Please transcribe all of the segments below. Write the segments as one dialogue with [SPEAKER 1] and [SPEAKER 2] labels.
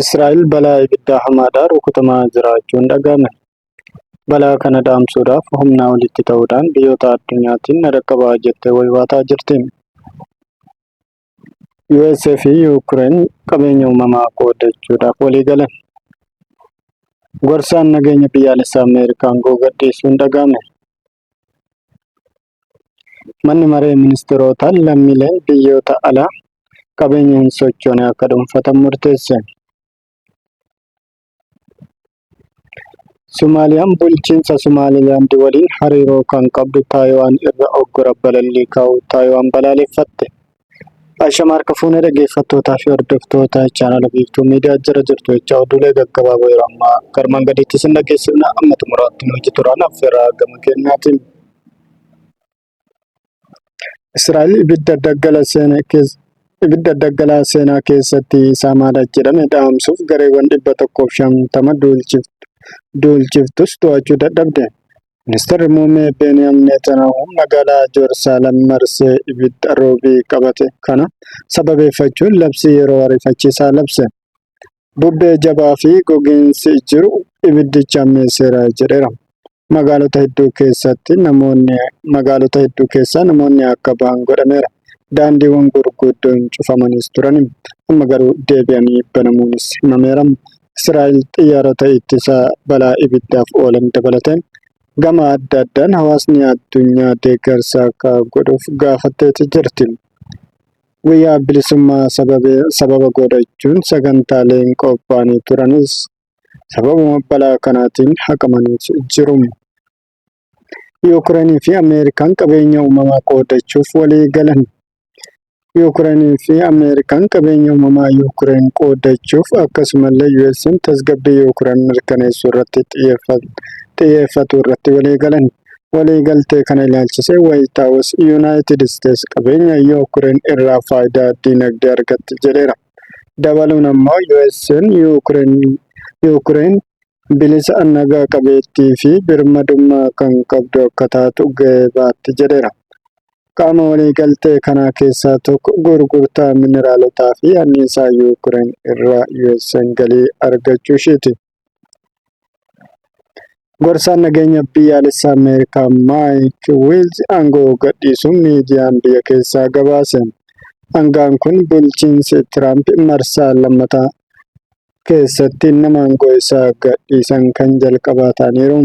[SPEAKER 1] Israa'el balaa ibiddaa hamaadhaan rukutamaa jiraachuun dhaga'ame. Balaa kana dhaamsuudhaaf humnaa olitti ta'uudhaan biyyoota addunyaatiin na dhaqqabaa jettee waywaataa jirti. USA fi Yuukireen qabeenya uumamaa qoodachuudhaaf walii galan. Gorsaan nageenya biyyaalessaa Ameerikaa aangoo gadhiisuun dhaga'ame. Manni Maree Ministirootaa lammiileen biyyoota alaa qabeenya hin sochoone akka dhuunfatan murteesse. Somaaliyaan bulchiinsa Somaalilaand waliin hariiroo kan qabdu Taayiwaan irra oggura balallii kaa'uu Taayiwaan balaaleffatte. Ashama harka fuunee dhaggeeffattootaa fi hordoftoota chaanala biiftuu miidiyaa jira jirtu jecha oduulee gaggabaaboo yeroo ammaa garmaan gadiitti isin dhaggeessifna amma xumuraatti nu hojii turaan affeeraa gama keenyaatiin. Israa'el ibidda daggala seene keessa ibidda daggalaa seenaa keessatti saamaadha jedhame dhaamsuuf gareewwan dhibba tokkoof shantama duulchiftus to'achuu dadhabde. Ministeerri Muummee Beeniyam Neetanaahu magaalaa Jerusalem marsee ibidda roobii qabate kana sababeeffachuun labsii yeroo ariifachiisaa labse. Bubbee jabaa fi gogiinsi jiru ibiddicha ammeesseera jedheera. Magaalota hedduu keessatti namoonni magaalota hedduu keessaa namoonni akka bahan godhameera. Daandiiwwan gurguddoon cufamaniis turan. Amma garuu deebi'anii banamuunis himameera. Israa'el xiyyaarota ittisa balaa ibiddaaf oolan dabalatee gama adda addaan hawaasni addunyaa deeggarsa akka godhuuf gaafatteeti jirti. Guyyaa bilisummaa sababa godhachuun sagantaaleen qophaa'anii turanis sababuma balaa kanaatiin haqamaniiti jiru. Yuukreenii fi Ameerikaan qabeenya uumamaa qoodachuuf walii galan. Yuukreenii fi Ameerikaan qabeenya uumamaa Yuukreen qoodachuuf akkasumallee US'n tasgabbii Yuukreen mirkaneessuu irratti xiyyeeffatu irratti walii galan. Waliigaltee kana ilaalchisee Waayit Haawus Yuunaayitid Isteets qabeenya Yuukreen irraa faayidaa diinagdee argatti jedheera. Dabaluun ammoo US'n Yuukreen bilisa, naga qabeettii fi birmadummaa kan qabdu akka taatu gahee baatti jedheera. Qaama waliigaltee kanaa keessaa tokko gurgurtaa mineraalotaa fi anniisaa Yuukireen irraa US'n galii argachuu ishiiti. Gorsaan nageenya biyyaalessaa Ameerikaa Maayik Wiilz aangoo gadhiisuun miidiyaan biyya keessaa gabaase. Hangaan kun bulchiinsi Tiraamp marsaa lammataa keessatti nama aangoo isaa gadhiisan kan jalqabaa ta'aniiru.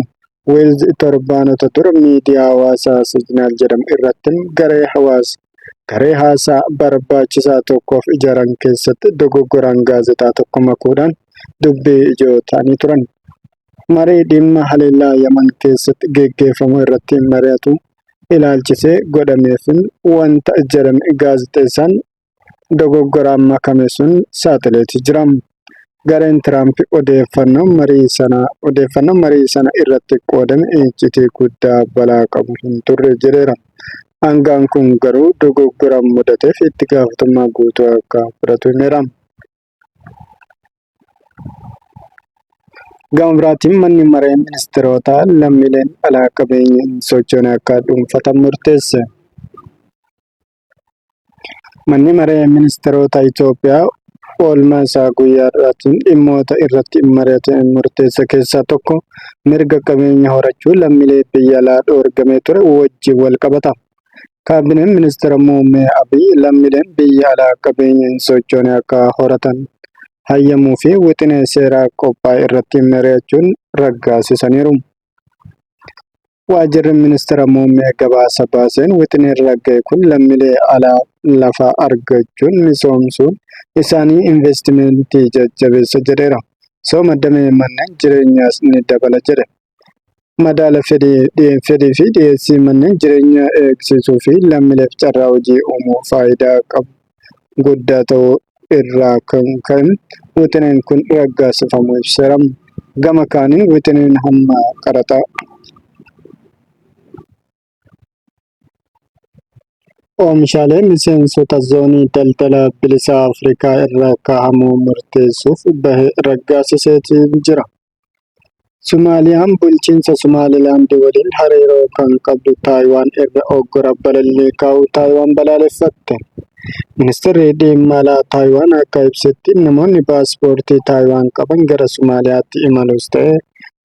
[SPEAKER 1] Weelz torbaanota dura miidiyaa hawaasaa Siijinaal jedhamu irratti garee hawaasa garee haasaa barbaachisaa tokkoof ijaaran keessatti dogoggoraan gaazexaa tokko makuudhaan dubbii ijoo ta'anii turan. Marii dhimma haleellaa Yaman keessatti geggeeffamu irratti mari'atu ilaalchisee godhameefin wanta jedhame gaazexeessaan dogoggoraan makame sun saaxileeti jira. Gareen Tiraamp odeeffannoo marii sana odeeffannoo marii sana irratti qoodame iccitii guddaa balaa qabu hin turre jedheera. Hangaan kun garuu dogoggora mudateef itti gaafatamummaa guutuu akka fudhatu himeera. Gama biraatiin manni maree ministeerotaa lammiileen alaa qabeenya hin sochoone akka dhuunfatan murteesse. Manni Maree Ministeerota Itoophiyaa oolmaa isaa guyyaa har'aatiin dhimmoota irratti mari'atee murteesse keessaa tokko mirga qabeenya horachuu lammiilee biyya alaa dhoorgamee ture wajjin wal qabata. Kaabineen Ministeera Muummee Abiy lammiileen biyya alaa qabeenya hin sochoone akka horatan hayyamuu fi wixinee seeraa qophaa'e irratti mari'achuun raggaasisaniiru. Waajjirri Ministira Muummee gabaasa baaseen wixineen ragga'e kun lammilee alaa lafa argachuun misoomsuun isaanii investimentii jajjabeessa jedheera. Misooma damee manneen jireenyaas ni dabala jedhe. Madaala fedhii fi dhiyeessii manneen jireenyaa eegsisuu fi lammileef carraa hojii uumuu faayidaa qabu guddaa ta'uu irraa kan ka'e wixineen kun raggaasifamuu ibseera. Gama kaaniin wixineen hamma qaraxa oomishaalee miseensota zoonii daldala bilisaa Afrikaa irra kaa'amuu murteessuuf bahe raggaasiseeti jira. Sumaaliyaan bulchiinsa Sumaalilaand waliin hariiroo kan qabdu Taayiwaan irra uggura balallii kaa'uu Taayiwaan balaaleffatte. Ministeerri Dhimma Alaa Taayiwaan akka ibsetti namoonni paaspoortii Taayiwaan qaban gara Sumaaliyaatti imaluus ta'e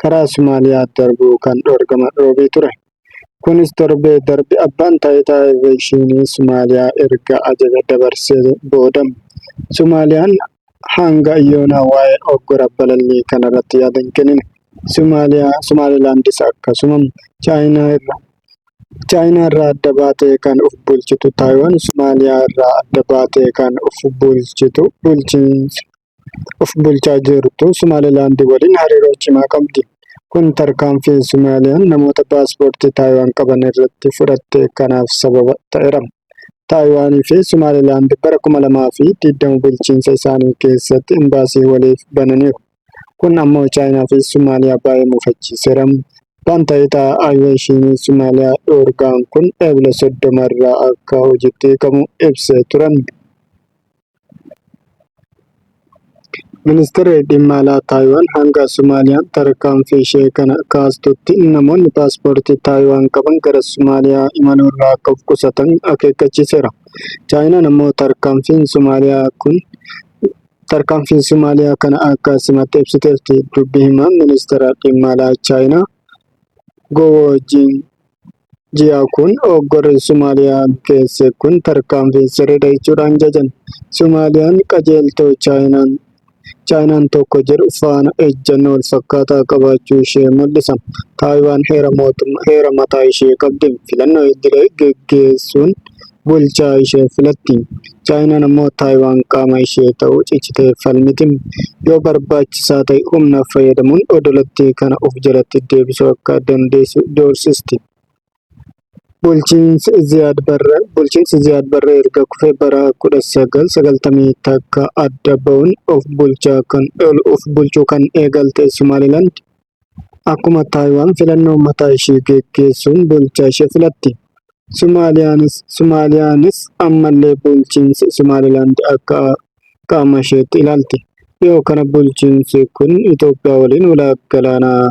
[SPEAKER 1] karaa Sumaaliyaa darbuu kan dhorgaman Roobii ture. Kunis torbee darbe abbaan taayitaa Aveekshiinii Somaaliyaa erga ajaja dabarsee booda. Somaaliyaan hanga yoonaa waa'ee oggura balallii kanarratti yaada hin kennine. Somaalilaandis akkasuma. Chaayinaa irraa adda baatee kan of bulchitu Taayiwaan Somaaliyaa irraa adda baatee kan of bulchitu bulchiinsa. of bulchaa jirtu Somaalilaand waliin hariiroo cimaa qabdi. Kun tarkaanfiin Somaaliyaan namoota paaspoortii Taayiwaan qaban irratti fudhatte kanaaf sababa ta'eera. Taayiwaanii fi Somaalilaand bara 2020 bulchiinsa isaanii keessatti imbaasii waliif bananiiru. Kun ammoo Chaayinaa fi Somaaliyaa baay'ee mufachiiseera. Baantaayita Aviyeeshinii Somaaliyaa dhoorgaan kun Eebila 30 irraa akka hojiitti hiikamu ibsee turan. Ministirri Dhimma Alaa Taayiwaan hanga Somaaliyaan tarkaanfii ishee kana kaastutti namoonni paaspoortii Taayiwaan qaban gara Somaaliyaa imaluurraa akka of qusatan akeekkachiiseera. Chaayinaan ammoo tarkaanfiin Somaaliyaa kun tarkaanfiin Somaaliyaa kana akka simatte ibsiteerti. Dubbi himaan Ministeera Dhimma Alaa Chaayinaa Goowoo Jiin Ji'a kun hoggorri Somaaliyaa keesse kun tarkaanfii sirriidha jechuudhaan jajan. Somaaliyaan qajeeltoo Chaayinaan Chaayinaan tokko jedhu faana ejjannoo wal fakkaataa qabaachuu ishee mul'isa. Taayiwaan heera mootummaa heera mataa ishee qabdi. Filannoo idilee geggeessuun bulchaa ishee filatti. Chaayinaan ammoo Taayiwaan qaama ishee ta'uu cichitee falmiti. Yoo barbaachisaa ta'e humna fayyadamuun odolattii kana of jalatti deebisuu akka dandeessu doorsisti. Bulchiinsi Ziyaad Barre Bulchiinsi Ziyaad Barre erga kufee bara 1990 takka adda ba'uun of bulchaa kan of bulchuu kan eegalte Somaalilaand Akkuma Taayiwaan filannoo mataa ishee geggeessuun bulchaa ishee filatti. Somaaliyaanis ammallee bulchiinsi Somaalilaand akka qaama isheetti ilaalti. Dhiyoo kana bulchiinsi kun Itoophiyaa waliin walaaq galaanaa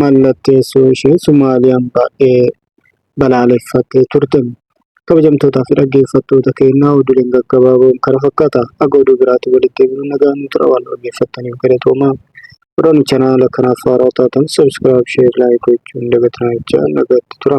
[SPEAKER 1] mallatteessuu ishee Somaaliyaan baay'ee balaaleffattee turte. Kabajamtootaa fi dhaggeeffattoota keenyaa oduuleen gaggabaaboon kana fakkaata. Akka oduu biraatti walitti himnu nagaa nu tura waan dhaggeeffattaniif galatoomaa. Odoon chanaala kanaaf haaraa taatan subscribe, share, like gochuun dagatinaa jechaa nagaatti tura.